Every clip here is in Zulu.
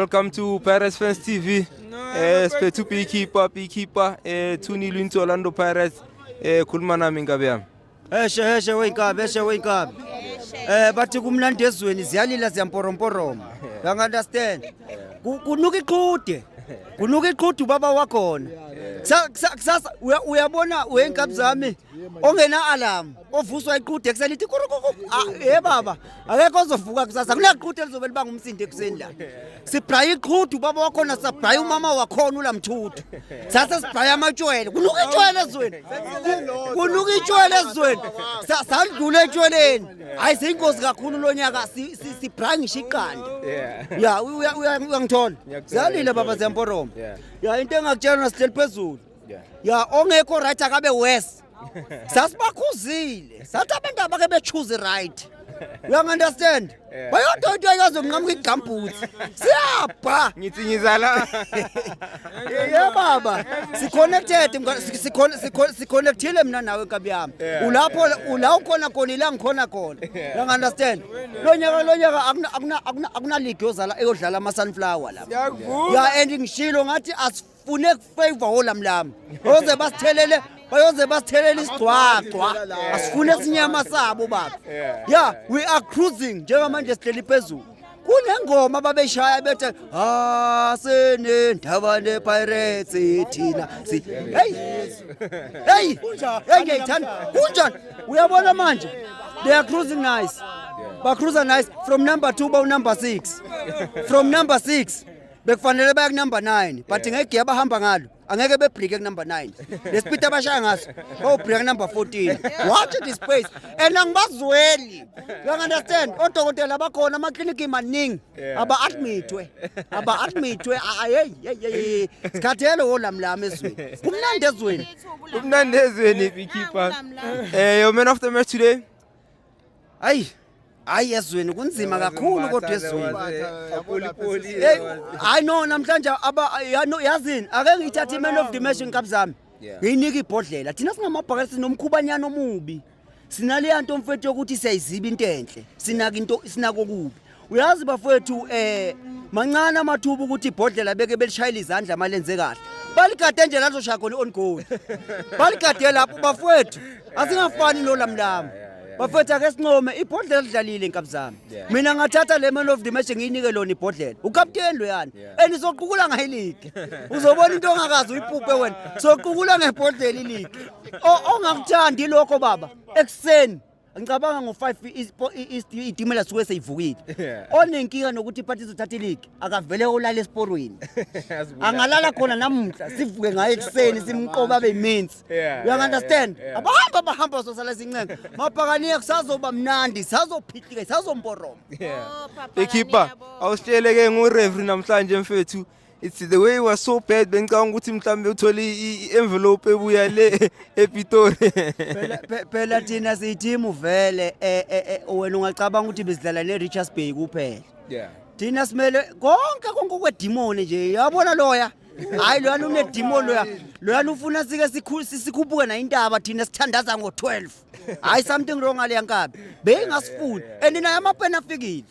Welcome to Pirates Fans TV. Eh spethu beekeeper beekeeper eh 2-0 into Orlando Pirates. Eh khuluma nami inkabi yami. Eshe eshe weyinkabi eshe weyinkabi. Eh bathi kumnandi ezweni ziyalila ziyamporomporoma. You understand? Ku- Kunuka iqhude. Kunuka iqhude ubaba wakhona. Kusasa uyabona weyinkabi zami ongena alarm. ovuswa iqhude ekuseni ithi kurukuku ah, he baba akekho ozovuka kusasa kunaqhude elizobe libanga umsindo ekuseni la sibhraya iqhudu ubaba wakhona sibhraya umama wakhona ulamthudu sase sibhraya amatshwele kunuka itshwele ezweni kunuka itshwele ezweni salidlula etshweleni hhayi seyingozi kakhulu lo nyaka sibhraya ngisho iqanda ya uyangithola ziyalile baba ziyamporoma ya into engakutshela nasihleli phezulu ya ongekho right akabe wes sasibakhuzile sathi abantu abake bechuze right you understand bayodwa into ayikazonqamuka igambhuthi siyabha ngithi ngizala ye baba siconnected siconnectile mina nawe nkabi yami ulapho ula ukhona khona ila ngikhona khona you understand lo nyaka lo nyaka akunaligi yozala eyodlala ama-sunflower lapha ya and ngishilo ngathi asif fune favor olamlami oze basithelele bayoze basithelele isigcwagcwa asifune sinyama sabo baba yeah we are cruising njengamanje sihleli phezulu kunengoma babeshaya bethe asenendaba nepirates thina si hey hey hey ngiyithanda kunjani uyabona manje they are cruising nice ba cruiser nice from number 2 ba number 6 from number 6 bekufanele baya kunumber 9 but yeah. ngegiya abahamba ngalo angeke bebreake kunumber 9 lespeed abashaya ngaso bawubreaka number 14 watch this place and angibazweli you understand odokotela abakhona amakliniki maningi aba-admithwe aba-admithwe ayeyeyeyi sikhathele wolamlami ezweni kumnandi ezweni kumnandi ezweni um eh, man of the match today Ayi hayi ezweni kunzima kakhulu kodwa ezweni hayi no namhlanje yazini ake ngiyithathe i-man of the match nkabi zami ngiyinike ibhodlela thina singamabhakela sinomkhubanyana omubi sinaleya nto mfethu yokuthi siyayiziba into enhle sinaka into sinako kubi uyazi bafowethu um eh, mancane amathuba ukuthi ibhodlela beke belishayela izandla uma lenze kahle baligade nje lazoshaya khona i-ongold baligade lapho bafowethu asingafani nolamlama bafethu ake sincome ibhodlela lidlalile nkabi zami mina ngathatha le man of the match ngiyinike lona ibhodlela ukapteni loyani and soqukula ngayo iligi uzobona into ongakazi uyipupe wena soqukula ngebhodlela iligi ongakuthandi lokho baba ekuseni ngicabanga ngo-5 itimela suke seyivukile onenkinga nokuthi iphathi izothatha iligi akavele olala esiporweni angalala khona namuhla sivuke ngayo ekuseni simqoba abe imensi uyangunderstand abahambi abahamba bazosala izincenga mabhakaniya kusazoba mnandi sazophihlika sazomboroma oh, ikhipha awusitsheleke ngurevri namhlanje mfethu it's the way it was so bad bengicabanga ukuthi mhlawumbe uthole i-envelope ebuya le epitori phela thina siyithimu vele eh, eh, eh, wena ungacabanga ukuthi besidlala ne-richards bay kuphela thina simele konke konke okwedimoni nje yabona loya hayi loyana unedimoni loya loyana ufuna sike sikhuphuke nayo intaba thina sithandaza ngo-12 hayi something wrong aleyankabi beyingasifuni and nayo amapeni afikile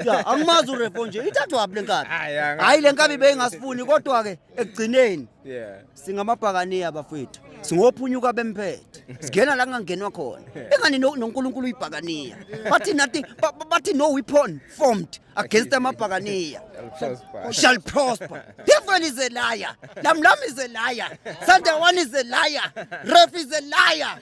ya angimazi urefo nje ithathwaphi le nkabi Hayi, angazi. hhayi le nkabi beyingasifuni kodwa-ke ekugcineni Yeah. singamabhakaniya bafethu singophunyuka bemphethe singena la kungangenwa khona engani no- nonkulunkulu uyibhakaniya bathi nathi ba- ba- bathi no weapon formed against amabhakaniya Prosper. shall prosper devil is a liar lamlam is a liar sandawan is a liar ref is a liar